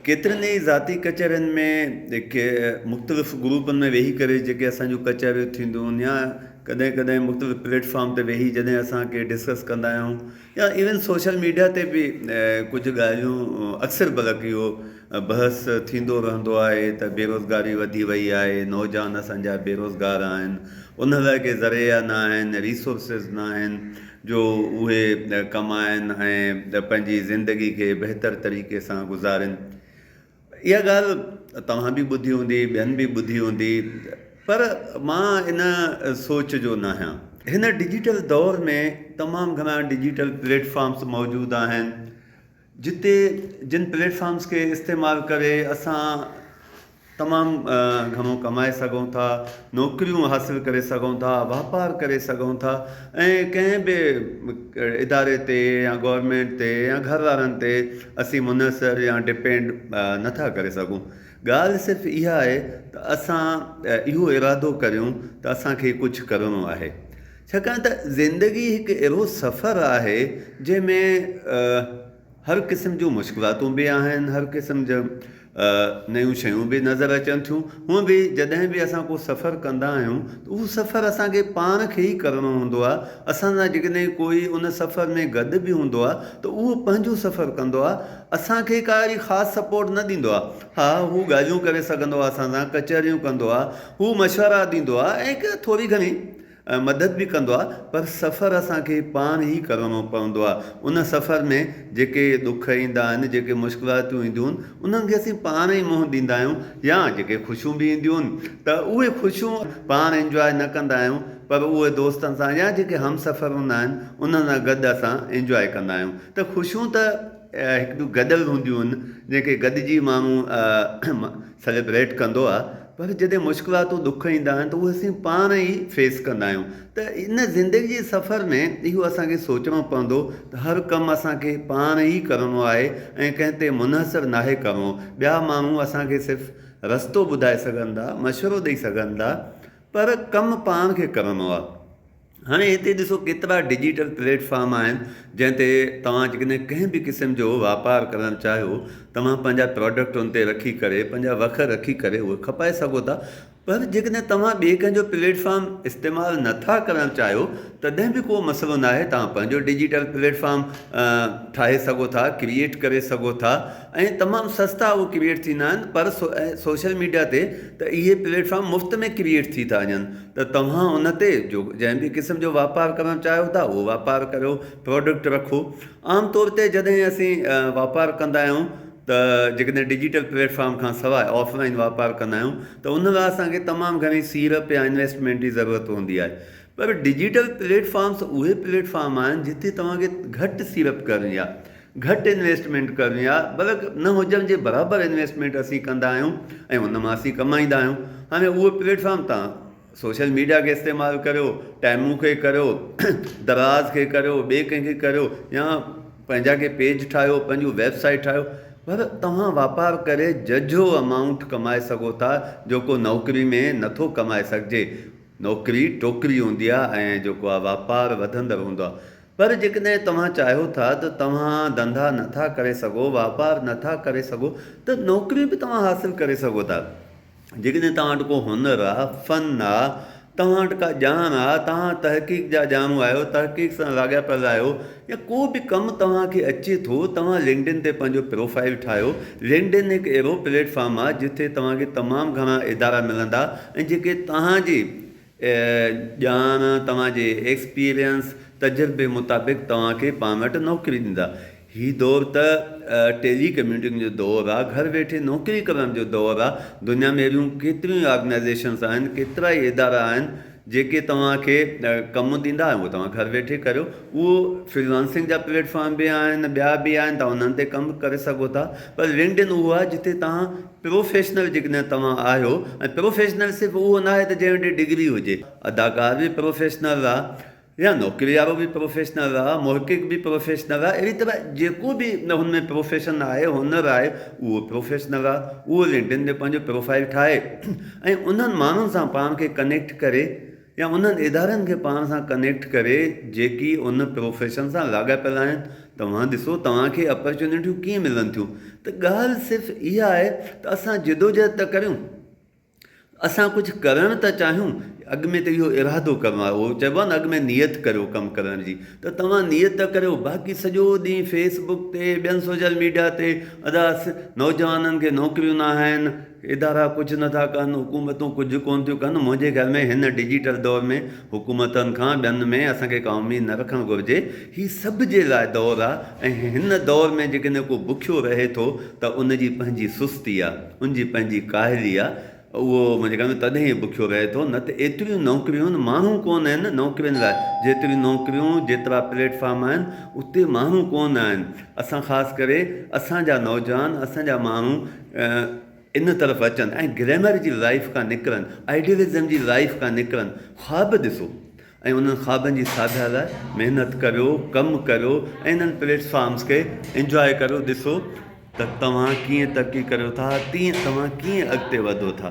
ڪيترين ئي ذاتي ڪچهرين ۾ مختلف گروپن ۾ ويهي ڪري جيڪي اسان جون ڪچهريون ٿينديون يا ڪڏهن ڪڏهن مختلف پليٽ فارم تي ويهي جڏهن اسان ڪي ڊسڪس ڪندا آهيون يا ايون سوشل ميڊيا تي به ڪجهه ڳالهيون اڪثر بلڪ اهو بحث ٿيندو رهندو آهي ته بيروزگاري وڌي وئي آهي نوجوان اسان جا بيروزگار آهن انهن لاء ڪي ذريعا نه آهن ريسورسز نه آهن جو اهي ڪمائن ۽ پنهنجي زندگي کي بهتر طريقي سان گذارين. اها ڳالهه توهان به ٻڌي هوندي، ٻين به ٻڌي هوندي پر مان ان سوچ جو ناهيان. هن ڊجيٽل دور ۾ تمام گهڻا ڊجيٽل پليٽ فارمز موجود آهن. جتي جن پليٽ فارمز کي استعمال ڪري اسان تمام گهڻو ڪمائي سگهون ٿا نوڪريون حاصل ڪري سگهون ٿا واپار ڪري سگهون ٿا ۽ ڪنهن به اداري تي يا گورمينٽ تي يا گهر وارن تي اسين منحصر يا ڊپينڊ نٿا ڪري سگهون ڳالهه صرف اها آهي ته اسان اهو ارادو ڪريون ته اسانکي ڪجهه ڪرڻو آهي ڇاڪاڻ ته زندگي هڪ اهڙو سفر آهي جنهن ۾ هر قسم جون مشڪلاتون به آهن هر قسم جا نيون شيون به نظر اچن ٿيون هونء به جڏهن به اسان ڪو سفر ڪندا آهيون ته اهو سفر اسان کي پاڻ کي ئي ڪرڻو هوندو آهي اسان سان جيڪڏهن ڪوئي ان سفر ۾ گڏ به هوندو آهي ته اهو پنهنجو سفر ڪندو آهي اسان کي ڪا اهڙي خاص سپورٽ نه ڏيندو آهي ها هو ڳالهيون ڪري سگهندو آهي اسان سان ڪچهريون ڪندو آهي هو مشورا ڏيندو آهي ۽ ڪا ٿوري گهڻي ۽ مدد به ڪندو آهي پر سفر اسان کي پاڻ ئي ڪرڻو پوندو آهي ان سفر ۾ جيڪي ڏک ايندا آهن جيڪي مشڪلاتون اينديون آهن انهن کي اسين پاڻ ئي منهن ڏيندا آهيون يا جيڪي خوشيون به اينديون آهن ته اهي خوشيون پاڻ انجواء نه ڪندا آهيون پر اهي دوستن سان يا جيڪي همسفر هوندا آهن انهن سان گڏ اسان انجواء ڪندا آهيون ته خوشيون ته هڪ ٻيون گڏيل هونديون آهن جنهن کي گڏجي ماڻهو سيليبريٽ ڪندو آهي. پر جڏهن مشڪلاتون ڏک ايندا آهن ته اهي اسين پاڻ ئي فيس ڪندا آهيون ته ان زندگي جي سفر ۾ اهو اسان کي سوچڻو پوندو ته هر ڪم اسان کي پاڻ ئي ڪرڻو آهي ۽ ڪنهن تي منحصر ناهي ڪرڻو ٻيا ماڻهو اسان کي صرف رستو ٻڌائي سگهندا مشورو ڏئي سگهندا پر ڪم پاڻ کي ڪرڻو آهي. هاڻي هتي ڏسو ڪيترا ڊجيٽل پليٽ فارم آهن جنهن تي توهان جيڪڏهن ڪنهن به قسم جو واپار ڪرڻ چاهيو توهان پنهنجا پراڊڪٽ ان تي رکي ڪري پنهنجا وک رکي ڪري اهي کپائي سگهو ٿا پر جيڪڏهن توهان ٻئي ڪنهن جو پليٽ فارم استعمال نه ٿا ڪرڻ چاهيو تڏهن به ڪو مسئلو ناهي توهان پنهنجو ڊجيٽل پليٽ فارم ٺاهي سگهو ٿا ڪريئيٽ ڪري سگهو ٿا ۽ تمام سستا اهي ڪريئيٽ ٿيندا آهن پر سوشل ميڊيا تي ته اهي پليٽ فارم مفت ۾ ڪريئيٽ ٿي ٿا وڃن ته توهان ان تي جو جنهن به قسم جو واپار ڪرڻ چاهيو ٿا اهو واپار ڪريو پروڊڪٽ رکو عام طور تي جڏهن اسين واپار ڪندا آهيون ته جيڪڏهن ڊجيٽل پليٽ فارم کان سواء آف لائن واپار ڪندا آهيون ته ان لاء اسانکي تمام گهڻي سيڙپ يا انويسٽمينٽ جي ضرورت هوندي آهي پر ڊجيٽل پليٽ فارمس اهي پليٽ فارم آهن جتي توهانکي گهٽ سيڙپ ڪرڻي آهي گهٽ انويسٽمينٽ ڪرڻي آهي بلڪ نه هجڻ جي برابر انويسٽمينٽ اسين ڪندا آهيون ۽ ان مان اسين ڪمائيندا آهيون هاڻي اهو پليٽ فارم تان سوشل ميڊيا کي استعمال ڪريو ٽائمون کي ڪريو دراز کي ڪريو ٻئي ڪنهن کي ڪريو يا پنهنجا ڪي پيج ٺاهيو پنهنجو ويب سائيٽ ٺاهيو پر توهان واپار ڪري ججهو امائونٽ ڪمائي سگهو ٿا جيڪو نوڪري ۾ نٿو ڪمائي سگهجي نوڪري ٽوڪري هوندي آهي ۽ جيڪو آهي واپار وڌندڙ هوندو آهي پر جيڪڏهن توهان چاهيو ٿا ته توهان ڌنڌا نه ٿا ڪري سگهو، واپار نه ٿا ڪري سگهو ته نوڪري به توهان حاصل ڪري سگهو ٿا. جيڪڏهن توهان وٽ ڪو هنر آ، فن آ، توهان وٽ ڪا ڄاڻ آ، توهان تحقيق جا ڄاڻو آهيو، تحقيق سان لاڳاپيل آهيو يا ڪو به ڪم توهان کي اچي ٿو، توهان لنڪڊن تي پنهنجو پروفائيل ٺاهيو. لنڪڊن هڪ اهڙو پليٽ فارم آ جتي توهان کي تمام گهڻا ادارا ملندا ۽ جيڪي توهان جي ڄاڻ، توهان جي ايڪسپيرينس، تجربي مطابق توهان کي پاڻ وٽ نوڪري ڏيندا. هي دور ته ٽيلي ڪميوٽنگ جو دور آ، گهر ويٺي نوڪري ڪرڻ جو دور آ. دنيا ۾ اهڙيون ڪيتريون ئي آرگنائيزيشنز آهن، ڪيترا ئي ادارا آهن، جيڪي توهان کي ڪم ڏيندا ۽ اهو توهان گهر ويٺي ڪريو. اهو فريلانسنگ جا پليٽ فارم به آهن، ٻيا به آهن، توهان انهن تي ڪم ڪري سگهو ٿا. پر لنڪڊ ان اهو آهي جتي توهان پروفيشنل جيڪڏهن توهان آهيو ۽ پروفيشنل صرف اهو ناهي ته جنهن وٽ ڊگري هجي، اداڪار به پروفيشنل رها يا نوڪري وارو به پروفيشنل رها، محقق به پروفيشنل رها اهڙي طرح جيڪو به هن ۾ پروفيشن آهي، هنر آهي اهو پروفيشنل رها، اهو لنڪڊن تي پنهنجو پروفائيل ٺاهي ۽ انهن ماڻهن سان پاڻ کي ڪنيڪٽ ڪري، يا انهن ادارن کي پاڻ سان ڪنيڪٽ ڪري جيڪي ان پروفيشن سان لاڳاپيل آهن، توهان ڏسو توهان کي اپرچونيٽيون ڪيئن ملن ٿيون ته ڳالهه صرف اها آهي ته اسان جدوجهد ته ڪريون اسان ڪجهه ڪرڻ ته چاهيون اڳ ۾ ته اهو ارادو ڪرڻو آهي اهو چئبو آهي نه اڳ ۾ نيت ڪريو ڪم ڪرڻ جي ته توهان نيت ته ڪريو باقي سڄو ڏينهن فيس بڪ تي ٻين سوشل ميڊيا تي ادا نوجوانن کي نوڪريون ناهن، ادارا ڪجهه نه ٿا ڪن، حڪومتون ڪجهه ڪونه ٿيون ڪن، منهنجي خيال ۾ هن ڊجيٽل دور ۾ حڪومتن کان ٻين ۾ اسان کي ڪا اميد نه رکڻ گهرجي، هي سڀ جي لاء دور آ ۽ هن دور ۾ جيڪڏهن ڪو بکيو رهي ٿو ته ان جي پنهنجي سستي آ، ان جي پنهنجي ڪاهلي آ، اهو منهنجي خيال ۾ تڏهن ئي بکيو رهي ٿو، نه ته ايتريون نوڪريون ماڻهو ڪونه آهن نوڪرين لاء، جيتريون نوڪريون جيترا پليٽ فارم آهن اتي ماڻهو ڪونه آهن، اسان خاص ڪري اسان جا نوجوان اسان جا ماڻهو. ان طرف اچن ۽ گريمر جي لائيف کان نڪرن، آئيڊيلزم جي لائيف کان نڪرن، خواب ڏسو ۽ انهن خوابن جي ساڌا لاء محنت ڪريو، ڪم ڪريو ۽ انهن پليٽ فارمز کي انجواء ڪريو، ڏسو ته توهان ڪيئن ترقي ڪريو ٿا، تيئن توهان ڪيئن اڳتي وڌو ٿا.